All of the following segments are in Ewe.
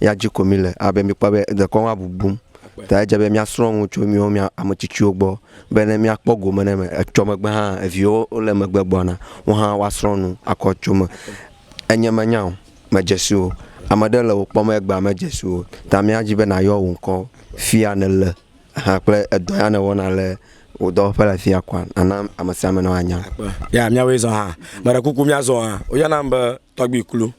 Ya dzi ko mile abe mikpɔ be dekɔnu abubum ta edze be miasrɔ̃ nu tso miwo mia ame tsitsiwo gbɔ be ne miakpɔ gome ɖe eme. Etsɔ megbe hã eviwo wole megbe gbɔna wo hã woasrɔ̃ nu akɔ tso eme. Enye menya o medze si o. Ame ɖe le wò kpɔm egbea medze si o ta mía dzi be nàyɔ wò ŋkɔ fia nèle hã kple edɔ ya nèwɔna le wò dɔwɔƒe le fia kɔa nàna ame sia ame nɔ anya. Ya miawoe zɔ hã. Meɖe kuku miazɔ hã. Woyɔnam be tɔgbui klu.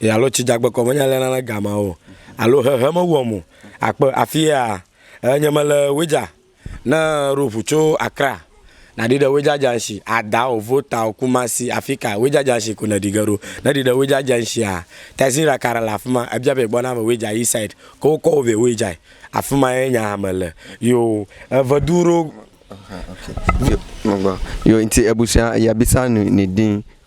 e alo tsi dzagbe kɔ menye lena ne gama o alo hehe mewɔ mo akpe afi ya e nye mele wedza ne ro ʋu tso akra na ɖi ɖe wedza dza nshi ada o vo ta o kumasi afi ka wedza dza nshi ko ne ɖi ge ɖo ne ɖi ɖe wedza dza nshi a tazi ra kara la afima e bia be gbɔ na me wedza yi side ko kɔ o be wedza afima ye nya me le yo e ve du ro Yo, nti ebusua yabisa ni ni din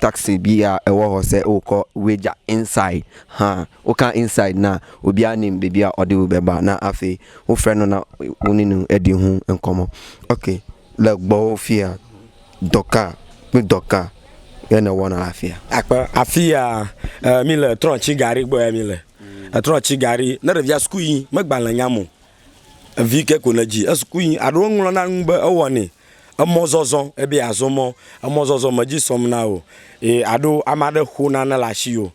Taxi bi ya ewɔ hɔ se o kɔ weja inside ha o ka inside na o bia nim be bia ɔ diwu be ba na afe o fre no na o ninu e di hu enkɔ mɔ ok le gbɔ o fia dɔka kpi dɔka ye ne wɔ na afia. Akpe afia e mi le trɔ ci gari gbɔ ya mi le e trɔ ci gari ne ɖevia suku yi me gba le nya mo. Evi ke ko nedzi esukui yi aɖo eŋlɔ na nu be ewɔnɛ. Emɔzɔzɔ ebe yeazɔ mɔ emɔzɔzɔ medzi sɔm na wò eye aɖo ame aɖe xo nane le asiwò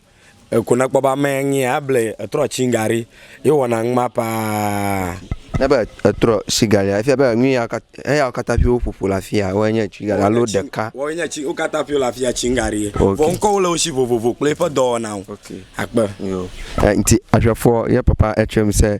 eko ne ekpɔ be ame yae nye ya eble ye etrɔ tsi ŋga ɖi ye wɔna numa paa. Ne be etrɔ tsi ga ɖia efia be enu ya eyawo katã ƒio woƒoƒo le afi ya woe nye tsi ga alo ɖeka. Woe nye tsi wo katã ƒio le afi ya tsi ŋga ɖi ye. Vɔ ŋkɔwo le wo si vovovo kple eƒe dɔwɔnawo. Akpe. Yo. Enti aƒeafɔ ye papa etsɔe ŋusẽ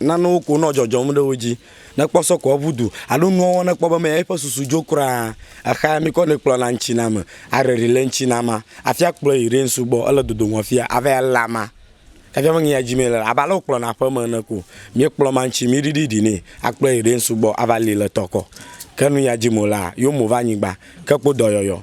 Nanewo ko nɔ dzɔdzɔm ɖe wo dzi ne kpɔ sɔ ko eŋu du alo nuwɔwɔ ne kpɔ be mea eƒe susu dzo kura. Exea mi kɔ nɛ kplɔna ŋtsiname areɖi le ŋtsinama afi akplɔe yi ɖensu gbɔ ele dodoŋɔ fia ava ele ama kafia me ŋia dzi mee le abe ale wokplɔna aƒeme ene ko mi kplɔ ma ŋtsi mi ɖiɖi ɖi nɛ akplɔe yi ɖensu gbɔ ava li le tɔkɔ ke nuya dzi mo laa yo mo va anyigba ke kpo dɔyɔyɔ.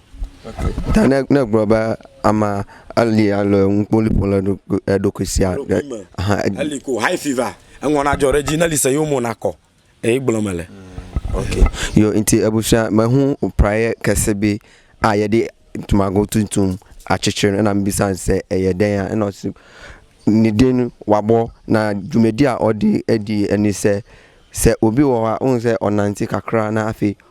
Ta ne ne gblɔ be ama eli ale ŋukpoli ƒo le ɖokui eɖokui sia ɖe ahan ed. Eli ko high fever eŋɔ na dzɔ ɖe edzi ne li se yewo mo na kɔ eye gblɔ me le. Ok yo nti ebusia me hu praye kese be a ye de tumago tuntum a tsetse ne na mbisa se eye de ya eno si ni den wa bo na dwumedia ɔdi edi eni se se obi wɔwa un se ɔna nti kakra na afi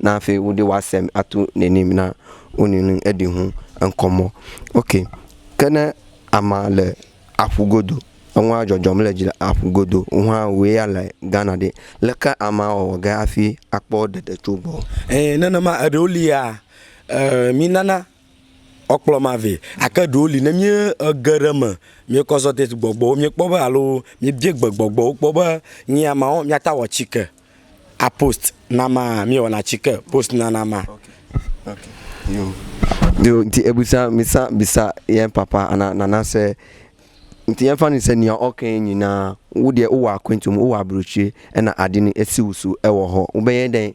Na afe wo ɖe woasem ato nenem na wo nunu eɖi ho eŋkɔ mɔ. Ok. Ke ne ama le aƒu godo, eŋua dzɔdzɔm le dzi le aƒu godo, wohã woe ya le Ghana ɖe, leke ama awɔ ge afi akpɔ ɖeɖe tso gbɔ? Ɛɛ, nenema, eɖewo lia, ɛɛ, mìnana Wokplɔm avɛ. Gake ɖewo li, ne míege ɖe eme, míekɔ zɔdid gbɔgbɔwo míekpɔ be alo míebia gbe gbɔgbɔwo kpɔ be nyi ya mawo míate awɔ tsike apost na amea, míewɔna tsike post na na amea. Yo nti ebusa misa bisa yɛ papa ana nana sɛ nti yɛ fani sɛ nia ɔkɛ nyina wo deɛ wowɔ akɔntum wowɔ abrotsie ena adini esiwusu ewɔ hɔ wobɛ yɛ dɛ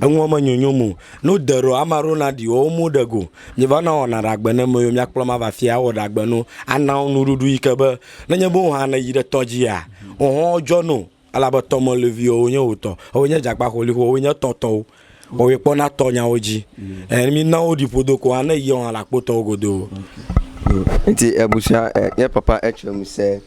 Eŋuɔ me nyonyo mo. No de ɖo ama ɖo na ɖi wo mo ɖe go. Mi va na wɔna ɖa gbe ne me yo mia kplɔ ma va fia wɔ ɖa gbe no ana wo nu ɖuɖu yi ke be ne nye bo hã ne yi ɖe tɔ dzi a ohɔ djɔ no elabe tɔ me levi wo nye wo tɔ wo nye djagba xo li xo wo nye tɔ tɔwo wo ye kpɔ na tɔ nya wo dji eh mi na wo ɖi ƒodo ko hã ne yi wo hã la kpo tɔwo godo. Enti ebu sia eh nye papa etsɔ mi se.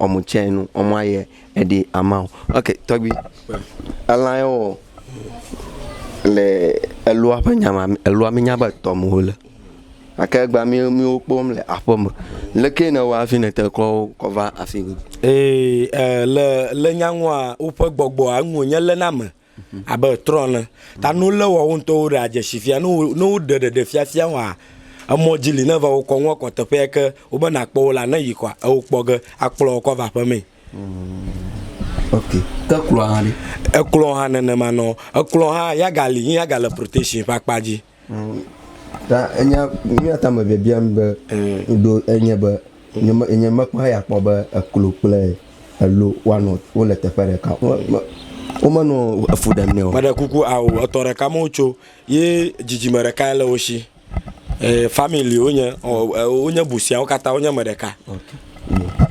Ɔmu tsɛ nu ɔmu ayɛ eɖi ama o. Ok tɔgbi elan yɛ wɔ le elua ƒe nya ma elua mi nya be etɔme wo le. Gake egba mi mi wo kpɔm le aƒe me. Lekee ne wa hafi ne te kɔ wo kɔ va afi mi? Ee e le le nyanua woƒe gbɔgbɔa ŋu wonye le na me. Abe trɔ̃ ene. Ta ne wolé woawo ŋutɔwo ɖea dzesi fia, ne wo, ne woɖe ɖeɖefiafia wɔa emɔ dzi li ne va wokɔ ŋua kɔ teƒe ya ke wobe nàkpɔ wo la, ne yi kɔa, eo kpɔ ge akplɔ wo kɔ ava aƒemee. Ok. Ke kplɔ̃a hã ɖe? Ekplɔ̃ hã nenema nɔ. Ekplɔ̃ hã, ya gali, yi ya gale protection ƒe akpa dzi. Ta enya nuya ta me biabiam be ɖo enye be nye mekpɔ ya kpɔ be eklo kple elo woanɔ wole teƒe ɖeka womenɔ efu ɖem nɛ o. Meɖe kuku ao etɔ ɖeka me wotso ye dzidzime ɖekae le wo si. E, family wonye, wonye busia wo katã wonye me ɖeka.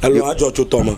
Elo adzɔ tso tɔme.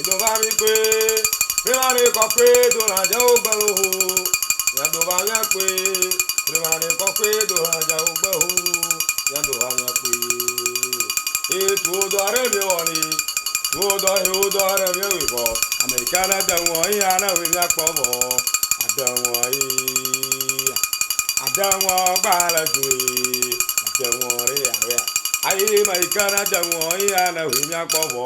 Ɖovaɖikpe, Ɖovaɖi kɔkɔe dolãdzawo gbe loho. Nyaɖovaviakpe, Ɖovaɖi kɔkɔe dolãdzawo gbe ho. Nyaɖovaviakpe, Ee tuwo dɔ aɖe mi wɔ ni. Tuwo dɔ yi wo dɔ aɖe mi wɔ vɔ. Ame yi ke ne de ŋɔ yi ane ŋui mia kpɔ vɔ. Ade ŋɔ yi ya. Ade ŋɔ gba le dzoe. Ade ŋɔ ɖe ya wea. Ayi me yi ke ne de ŋɔ yi ane ŋui mia kpɔ vɔ.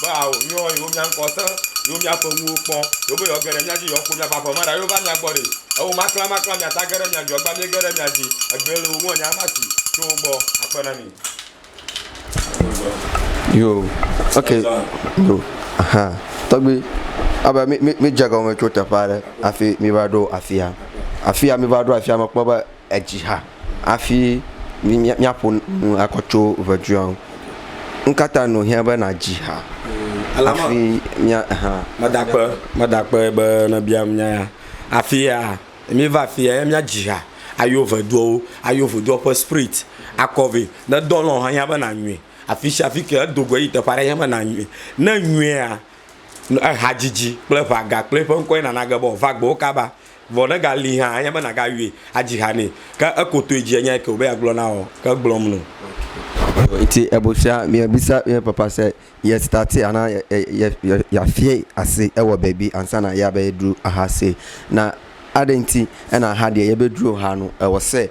be ao yɔ yewo mía ŋkɔ te, yewo mía ƒe nuwo kpɔ, yewo be yewoa ge ɖe mía dzi yewoa kpo mía ƒe aƒe me ɖa yewo va mía gbɔ ɖi. Ewo maklã maklã mía ta ge ɖe mía dzi egba mí ge ɖe mía dzi egbee le wo ŋu enya ma si tso wo gbɔ akpe na mí. Yo, ok, yo, aha, tɔgbi, abe mí mí mí dze gɔme tso teƒe aɖe afi mí va ɖo afia. Afia mí va ɖo afia me kpɔ be. edzi hã hafi míaƒo nu akɔ tso ŋɛdzuia ŋu. Nu ka ta nɔ hiã be nàdzi ha hafi mía hã? Meda akpe, meda akpe be nèbiam nya ya. Hafi ya, míva afi ya ye míadzi ha ayɔ ŋɛdzuawo, ayɔ ŋɛdzuawo ƒe spirit akɔ vɛ. Ne dɔ lɔ hiã be nànyrɔe afi sia afi ke edo go eyi teƒe aɖe hiã be nànyrɔe. Ne ènyrɔea, ehadzidzi kple ŋɛaga kple eƒe ŋkɔe nana ge be wòava gbɔwò kaba. Vɔ ne gali hã anye be nagayɔe adzi ha nɛ. Ke ekotoe dzi enya ke wòbe yeagblɔ na wò ke gblɔm nɔ. Ŋti ebu fia mia bisa mia papa se ye stati ana ya fie asi ewɔ baby ansa na ya be ye dru aha se na aɖe ŋti ena aha ɖe ye be dru ha nu ewɔ se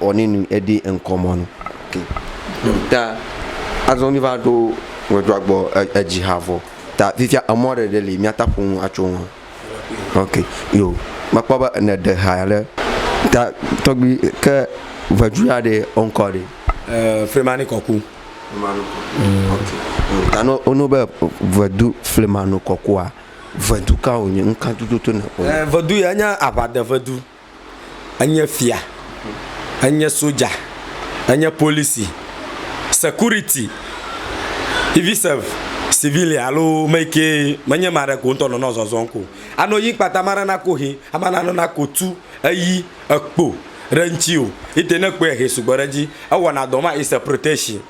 ɔ ni nu eɖi ŋkɔ mɔ nu ke. Ta azɔ mi va ɖo ŋɛdua gbɔ eji ha vɔ ta fifia emɔ ɖe ɖe li miata ƒo nu atso ŋu ok yo me kpɔ be ene ɖe ha ɖe ta tɔgbi ke ŋɛdu ya ɖe ɔ ŋkɔ ɖe. Eee flemani kɔku. Flemani kɔku ok yo ta ne wo be ŋɛdu flemani kɔkua ŋɛdu ka wo nyi ŋka tututu ne kpɔ. Eee ŋɛdu ya enye aʋa de ŋɛdu. enye fia, enye soja, enye polisi, security, even sef civilian alo me ke menye ame aɖe ko ŋutɔ nɔnɔ zɔzɔm ko. Ano yi kpata ame aɖe nako he, ame aɖe nana ko tu, eyi, ekpo ɖe eŋuti o. Ete ne ekpɔe he sugbɔ ɖe edzi. Ewɔna dɔ ma is a protection.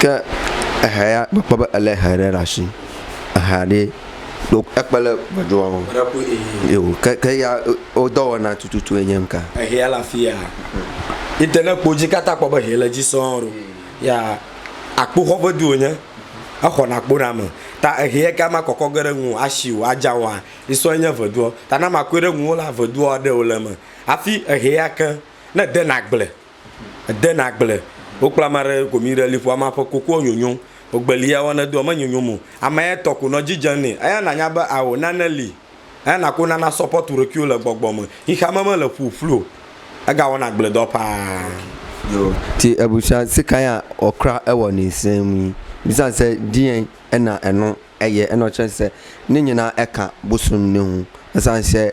Ke ehɛ ya mekpɔ be elé hɛ ɖe ɖe asi. Ehɛ ɖe ɖo ekpe ɖe gbedzɔa ŋu. Eo ke ke ya wo dɔwɔna tututu ye nye ŋka. Ehɛ ya le afi ya. Yi te ne ekpɔ dzi kata kpɔ be ehɛ le dzi sɔŋ ɖo. Ya akpoxɔ ƒe du wonye. Exɔ na akpo na ame. Ta ehɛ ya ke ama kɔkɔ ge ɖe ŋu o, asi o, adza o hã yi sɔ ye nye veduɔ. Ta ne ama kɔe ɖe ŋuo la veduɔ aɖe wole eme. Hafi ehɛ ya ke ne ede na agble Edena gble. Wokpla ama ɖe gomi ɖe liƒoa ma ƒe kokoɔ nyonyo. Wogbelia wo nedoa menyonyom o. Ama ya tɔ ko nɔ dzi dze nɛ. Eya nanya be ao, nane li. Eya nako nana sɔpɔtu ɖokuiwo le gbɔgbɔ me. Xexeame mele ƒuƒlu o. Egawɔna gbledɔ paa. Ci ebu sã sika ya ɔ kra ewɔ ni sɛ mi. Mi sã sɛ diɛ ena enu ɛyɛ enɔ cɛ sɛ ni nyina ɛka bosun ni hu. Esã sɛ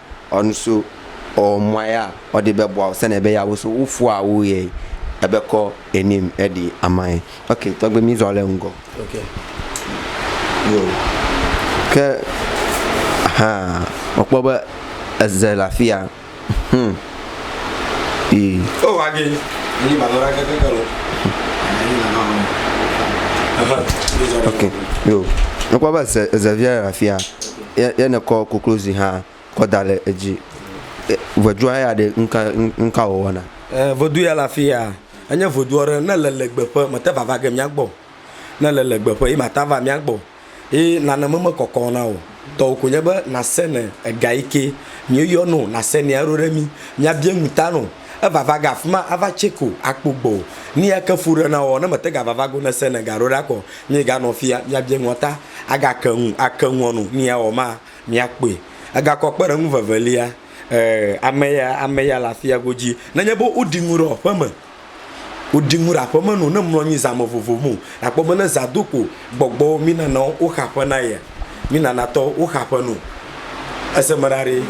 Ɔnuso ɔmua ya ɔdi be bɔa ɔsɛnɛ be ya wo so wo fua wo yɛ ebe kɔ enim edi amai ok tɔgbe mi zɔ le ŋgɔ ok yo ke ha ɔkpɔ be eze le afia hmm yi o wa ge ni ba lora ke ke lo ok yo ɔkpɔ be eze eze via le afia ye ne kɔ koklozi hã kɔ da le edzi. Ŋɛdua ya ɖe nuka nuka wò wɔna? E ŋɛdu ya le afiya, enye ŋɛdu aɖe ne le le gbe ƒe me te va va ge mía gbɔ. Ne le le gbe ƒe ye ma ta va mía gbɔ. Ye nane me me kɔkɔ na wò. Tɔwò ko nye be na se ne ega yike mía yɔ nɛ wò na se nɛ eɖo ɖe mí mía bia nu ta nɛ wò. Eva va ga fima ava tse ko akpo gbɔ o. Ni eke fu ɖe na woɔ, ne mete ga va va go ne se ne ga ɖo ɖa kɔ, mi ga nɔ fia mi abie ŋua ta aga ke ŋu ake ŋua nu ni ya wɔ ma mi akpɔe. Ega kɔ kpe ɖe ŋu vevelia, e, ame ya ame ya le afia godzi. Ne nye be wo ɖi ŋu ɖe aƒe me, wo ɖi ŋu ɖe aƒe me nu ne mlɔ anyi zã me vovo me o. Nakpɔ be ne zã do ko gbɔgbɔ wo mi nana wo xa ƒe na yea. Mi nanatɔwo, woxa ƒe nu. Ese me ɖa ɖe.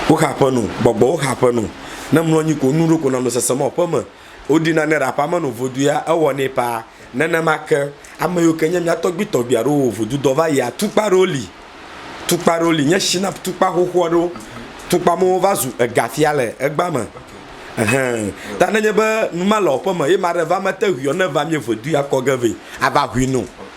Woxa ƒe nu. Gbɔgbɔwo xa ƒe nu. Ne mlɔ anyi ko nu ɖo ko nanɔ sesem ɔ ƒe me. Woɖi nane ɖe aƒea me no vodu ya ewɔ nɛ paa. Nenema ke, ame yiwo ke nye mía tɔgbui tɔgbui aɖewo wɔ vodu dɔ va yia, tukpa aɖewo li. Tukpa aɖewo li. Nye shina tukpa xoxo aɖewo. Tukpa mewo va zu ega fia le egbea me. Ehɛ. Ta ne nye be nu ma le ɔ ƒe me ye ma ɖe va mete hui ɔ ne va mie vodu ya kɔ ge vɛ ava hui nu.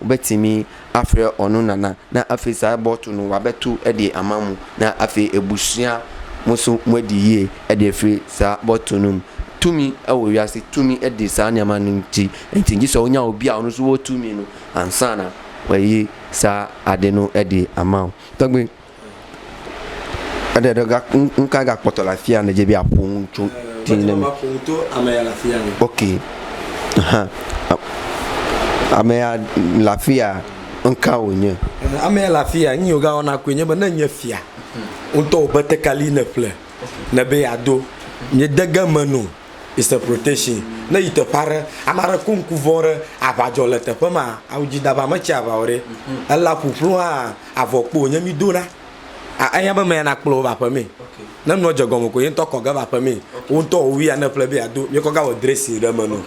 Wobe timi afre ɔnu nana na afe sa ebɔ tu nu wabe tu eɖie ama mu na afe ebu shia musu mueɖi yie eɖie fri sa bɔ tu num tumi ewo wiasi tumi eɖi sa niama nu ŋti ŋti ŋti sɔ wonya wobia ɔnu su wo tumi nu ansana weyi sa aɖe nu eɖie ama o tɔgbi Eɖe ɖe ga nu ka ga kpɔtɔ le afi ya nedze be aƒo nu tso ti ne mi. Aƒo nu to ame ya le afi ya. Ok, hã ame ya le afi ya nu ka wònye? Ame ya le afi ya nu yi woga wɔna koe nye be ne nye fia ŋutɔ wò ƒe tekali ne ƒle ne be ya do mi de ge me no is a protection ne yi teƒe aɖe ame aɖe ku ŋku vɔ ɖe aʋa dzɔ le teƒe ma awu dzi da va me tsi aʋa wɔ ɖe ela ƒuƒlu hã. avɔ kpo nye mi do ɖa a enya be me ya na kplɔ va ƒe me ne nua dze gɔme ko ye ŋutɔ kɔ ge va ƒe me wo ŋutɔ wo wi ya ne ƒle be ya do mi kɔ ga wɔ dresi ɖe me no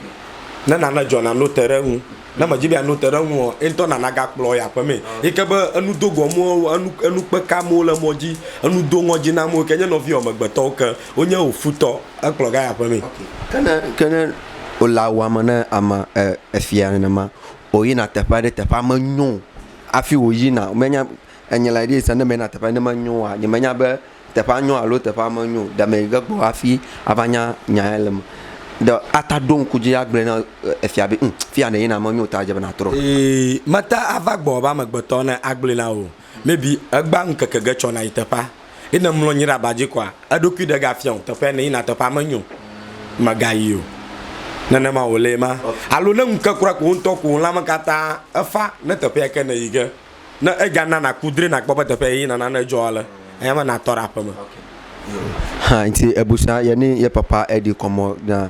ne na ne dzɔ na no te ɖe ŋu ne me dzi be ya no te ɖe ŋu o ye ŋutɔ na na ga kplɔ ya ƒe me yi ke be enu do gɔ mo wo enu enu kpe ka mo le mɔ dzi enu do ŋɔ dzi na mo ke nye nɔvi wɔ megbetɔwo ke wo nye wo futɔ ekplɔ ga ya ƒe me. Ke ne ke ne wòle awu ame ne ame e efia nenema o yina teƒe aɖe teƒea me nyo. Hafi wòyina, womenya be enye lae ɖi esi ne meyina teƒe aɖe ne menyo oa, nyemenya be teƒea nyo alo teƒea menyo o. Ɖe mege gbɔ hafi ava nya nya ya le eme. Ɖe ate aɖo ŋku dzi agblɔe na efia be ŋ, fi ya nèyina menyo o ta edze be nàtrɔ. Mate ava gbɔ be amegbetɔ ne agblɔe na wò o. Maybe egbea ŋkeke ge tsɔ nàyi teƒea. Ye ne mlɔ anyi ɖe aba dzi koa, eɖokui ɖegafia o. Teƒe ne yina teƒea menyo o, mègayi o. Nenema wòlee ma. Alo ne ŋu ke kura ko wò ŋutɔ ko wò lãme katã efa ne teƒea ke nèyi ge. Ne eya na nàku dre nàkpɔ be teƒe yeyina nane dzɔ ale, eya me nàtɔ ɖe aƒeme. Hã nti ebusa yɛ ni yɛ papa ɛdi kɔmɔ na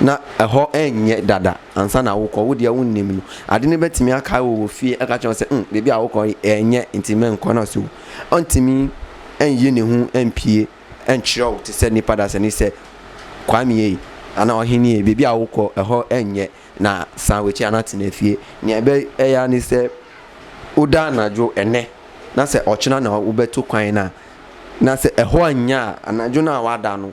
na exɔ enyɛ ɖaɖa ansa na wokɔ wo ɖia wo nɛ mi adi ne be timi aka wo fi eka tsɔ se um ɖebi awo kɔ enyɛ nti me ŋkɔ na so ɔntimi enye ne ho empie entrɔ ti se ni pada se ni se kwa mi ye ana wa hini ye bebi awo kɔ exɔ enyɛ na sa we tsi ana ti ne fie ni ebe eya ni se wo da na dro ene na se ɔtsina na wo be to kwa yi na na se exɔ enya ana dro na wa da no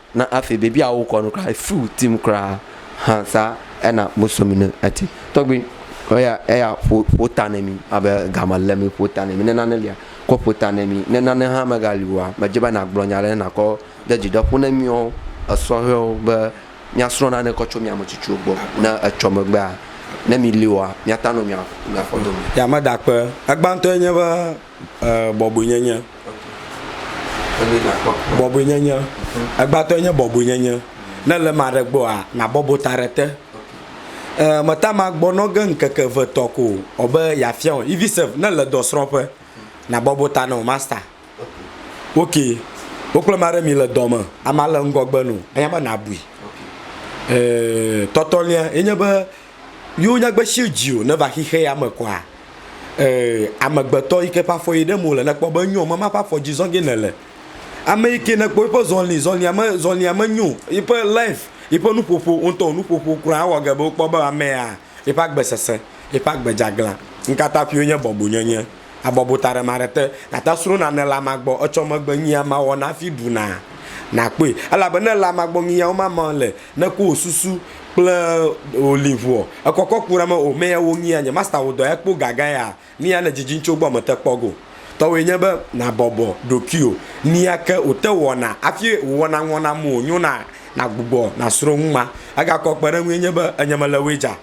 Na afee bebia wo kɔnu kura e feel team kura ha sa ena muso mi ne eti tɔgbi eya eya ƒo ƒo ta ne mi abe gama le mi ƒo ta ne mi ne nane lia kɔ ƒo ta ne mi ne nane ha me gali wa me dze be na gblɔ nya le na kɔ de dzi ɖe ƒo ne miɔ esɔ hɛ wo be mia srɔ nane kɔ tso mia me tsitsi wo gbɔ ne etsɔ megbea ne mi li wa mia ta no mia mia fɔ do mi. Yameda kpe egbantɔ enye be Ee, bɔbɔenyenye. Bɔbɔenyenye. Egbãtɔe nye bɔbɔenyenye. Ne le eme aɖe gbɔa, nàbɔbɔ ta ɖe te. Ee, meta ŋu agbɔ nɔ ge ŋkeke eve tɔ ko o be yeafia wò. Even self, ne èle dɔsrɔ̃ƒe, nàbɔbɔ ta nɔ masta. Ok, wò kple ame aɖe mile dɔ me, amea le ŋgɔgbe nɔ wò, enya be nàbui. Ee, tɔtɔlia ye nye be yo nyagbe shi dzi o ne va xixe ya me kɔa e amegbetɔ yi ke ƒe afɔ yi ɖem wole ne kpɔ be enyo me ma ƒe afɔ dzi zɔge ne le ame yi ke ne kpɔ eƒe zɔli zɔlia me zɔlia me nyo yi ƒe life yi ƒe nuƒoƒo ŋutɔ nuƒoƒo kura awɔ ge be wokpɔ be amea yi ƒe agbe sese yi ƒe agbe dze aglã ŋkata ƒio nye bɔbonyenye abɔbo taɖe maɖe te, gata sro nane le ama gbɔ, etsɔ megbe nyia ma wɔ nafi ɖu na, nakpɔe. Elabe ne le ama gbɔ nyia wo ma ma le, ne ku wo susu kple wo liŋuɔ, ekɔkɔ ku name o mea wo nyia nye masta wo dɔ ya kpo gaga ya nia ne dzidzi ŋtso gbɔ mete kpɔ go. Tɔwoe nye be na bɔbɔ ɖokuio nia ke wo te wɔna afi wo wɔna ŋɔna mo nyo na, na gbugbɔ na sro ŋma. Egakɔ kpeɖeŋue nye be enye mele woe dza.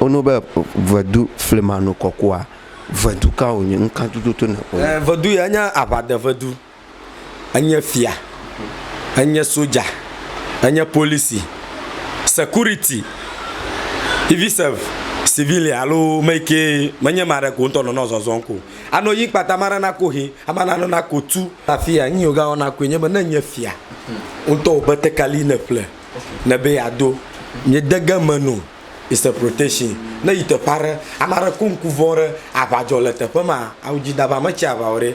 Wonu be vedu flimanu kɔkɔa, vedu ka wònye, nu ka tututu ne wònye? Vedu ya nye aʋadevedu, enye fia, enye sodza, enye polisi, security, even sef civilian alo ame yi ke menye ame aɖe ko ŋutɔ nɔna zɔzɔm ko. Anɔ yiyim kpata, ame aɖe naku ehe, ame aɖe anɔ naku tu. Afia nu yi wogawɔna koe nye be ne enye fia ŋutɔ wò betekali yi ne eƒle ne be yeado mìede ge eme no is a protection. Ne yi teƒe aɖe, ame aɖe ko ŋku vɔ̃ ɖe aŋa dzɔ le teƒe ma, awu dzi da va metsi aŋa o ɖe.